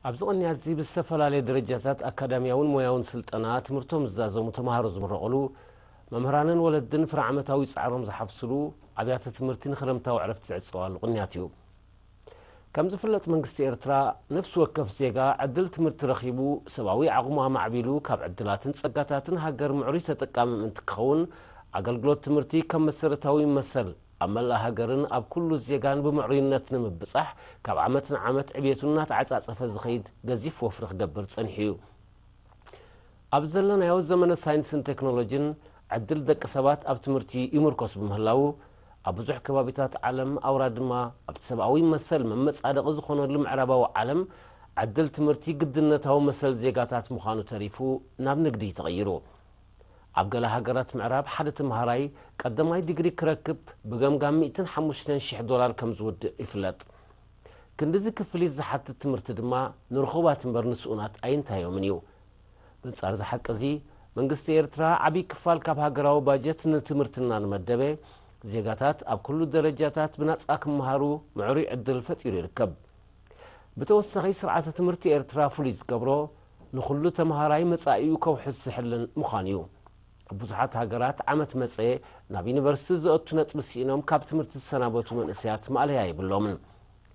ኣብዚ ቅንያትዚ ብዝተፈላለየ ደረጃታት ኣካዳሚያውን ሞያውን ስልጠና ትምህርቶም ዝዛዘሙ ተምሃሮ ዝምረቕሉ፣ መምህራንን ወለድን ፍረ ዓመታዊ ጻዕሮም ዝሓፍስሉ፣ ኣብያተ ትምህርቲ ንክረምታዊ ዕረፍቲ ዝዕጸዋሉ ቅንያት እዩ። ከም ዝፍለጥ መንግስቲ ኤርትራ፣ ነፍሲ ወከፍ ዜጋ ዕድል ትምህርቲ ረኺቡ ሰብኣዊ ዓቕሙ ኣማዕቢሉ ካብ ዕድላትን ጸጋታትን ሃገር ምዕሩይ ተጠቃሚ ምእንቲ ክኸውን ኣገልግሎት ትምህርቲ ከም መሰረታዊ መሰል ኣብ መላእ ሃገርን ኣብ ኩሉ ዜጋን ብምዕሩይነት ንምብጻሕ ካብ ዓመት ንዓመት ዕብየቱ እናተዓጻጸፈ ዝኸይድ ገዚፍ ወፍሪ ክገብር ጸኒሑ እዩ። ኣብ ዘለናዮ ዘመነ ሳይንስን ቴክኖሎጂን ዕድል ደቂ ሰባት ኣብ ትምህርቲ ይምርኮስ ብምህላዉ ኣብ ብዙሕ ከባቢታት ዓለም ኣውራ ድማ ኣብቲ ሰብኣዊ መሰል መመጻደቒ ዝኾነሉ ምዕራባዊ ዓለም ዕድል ትምህርቲ ግድነታዊ መሰል ዜጋታት ምዃኑ ተሪፉ ናብ ንግዲ ተቐይሩ ኣብ ገለ ሃገራት ምዕራብ ሓደ ተመሃራይ ቀዳማይ ዲግሪ ክረክብ ብገምጋም ሚእትን ሓሙሽተን ሽሕ ዶላር ከም ዝውድእ ይፍለጥ። ክንድዚ ክፍሊት ዝሓትት ትምህርቲ ድማ ንርኹባት እምበር ንስኡናት ኣይንታዮምን እዩ። በንጻር እዚ ሓቂ እዚ መንግስቲ ኤርትራ ዓቢ ክፋል ካብ ሃገራዊ ባጀት ንትምህርቲ እናመደበ ዜጋታት ኣብ ኩሉ ደረጃታት ብናጻ ክመሃሩ ምዕሩይ ዕድል ፈጢሩ ይርከብ። ብተወሳኺ ስርዓተ ትምህርቲ ኤርትራ ፍሉይ ዝገብሮ ንኹሉ ተምሃራይ መጻኢኡ ከውሕስ ዝሕልን ምዃን እዩ። ኣብ ብዙሓት ሃገራት ዓመት መጸ ናብ ዩኒቨርሲቲ ዘእቱ ነጥቢ ስኢኖም ካብ ትምህርቲ ዝሰናበቱ መንእሰያት ማእለያ የብሎምን።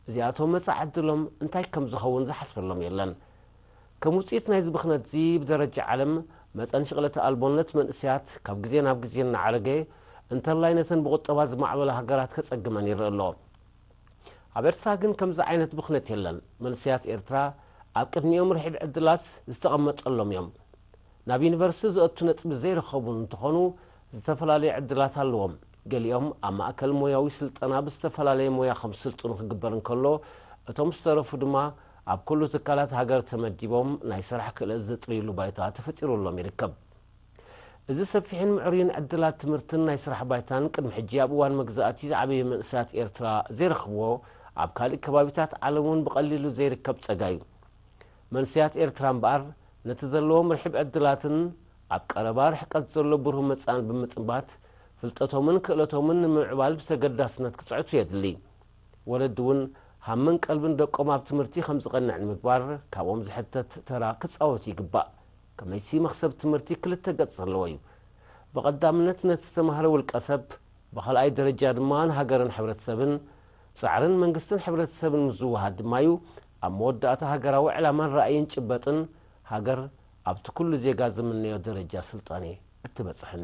እዚኣቶም መጻኢ ዕድሎም እንታይ ከም ዝኸውን ዝሓስበሎም የለን። ከም ውጽኢት ናይዚ ብኽነትዚ ብደረጃ ዓለም መጠን ሽቕለተ ኣልቦነት መንእሰያት ካብ ግዜ ናብ ግዜ እናዓረገ እንተላይ ነተን ብቑጠባ ዝማዕበላ ሃገራት ከጸግመን ይርእ ኣሎ። ኣብ ኤርትራ ግን ከምዚ ዓይነት ብኽነት የለን። መንሰያት ኤርትራ ኣብ ቅድሚኦም ርሒብ ዕድላት ዝተቐመጠሎም እዮም። ናብ ዩኒቨርስቲ ዘእቱ ነጥቢ ዘይረኸቡ እንትኾኑ ዝተፈላለየ ዕድላት ኣለዎም። ገሊኦም ኣብ ማእከል ሞያዊ ስልጠና ብዝተፈላለየ ሞያ ከምስልጥኑ ክግበር እንከሎ እቶም ዝተረፉ ድማ ኣብ ኩሉ ትካላት ሃገር ተመዲቦም ናይ ስራሕ ክእለት ዘጥርይሉ ባይታ ተፈጢሩሎም ይርከብ። እዚ ሰፊሕን ምዕሩይን ዕድላት ትምህርትን ናይ ስራሕ ባይታን ቅድሚ ሕጂ ኣብ እዋን መግዛእቲ ዝዓበየ መንእሰያት ኤርትራ ዘይረኽብዎ ኣብ ካልእ ከባቢታት ዓለም እውን ብቐሊሉ ዘይርከብ ጸጋ እዩ። መንሰያት ኤርትራ እምበኣር ነቲ ዘለዎም ርሒብ ዕድላትን ኣብ ቀረባ ርሕቀት ዘሎ ብሩህ መጻእን ብምጥንባት ፍልጠቶምን ክእለቶምን ንምምዕባል ብተገዳስነት ክጽዕቱ የድሊ። ወለዲ እውን ሃምን ቀልብን ደቆም ኣብ ትምህርቲ ከምዝቐንዕ ንምግባር ካብኦም ዝሕተት ተራ ክጻወቱ ይግባእ። ከመይሲ መኽሰብ ትምህርቲ ክልተ ገጽ ዘለዎ እዩ። ብቐዳምነት ነቲ ዝተማህረ ውልቀሰብ፣ ብኻልኣይ ደረጃ ድማ ንሃገርን ሕብረተሰብን፣ ጻዕርን መንግስትን ሕብረተሰብን ምስ ዝወሃድ ድማ እዩ ኣብ መወዳእታ ሃገራዊ ዕላማን ራእይን ጭበጥን ሃገር ኣብቲ ኩሉ ዜጋ ዝምነዮ ደረጃ ስልጣኔ እትበጽሕን።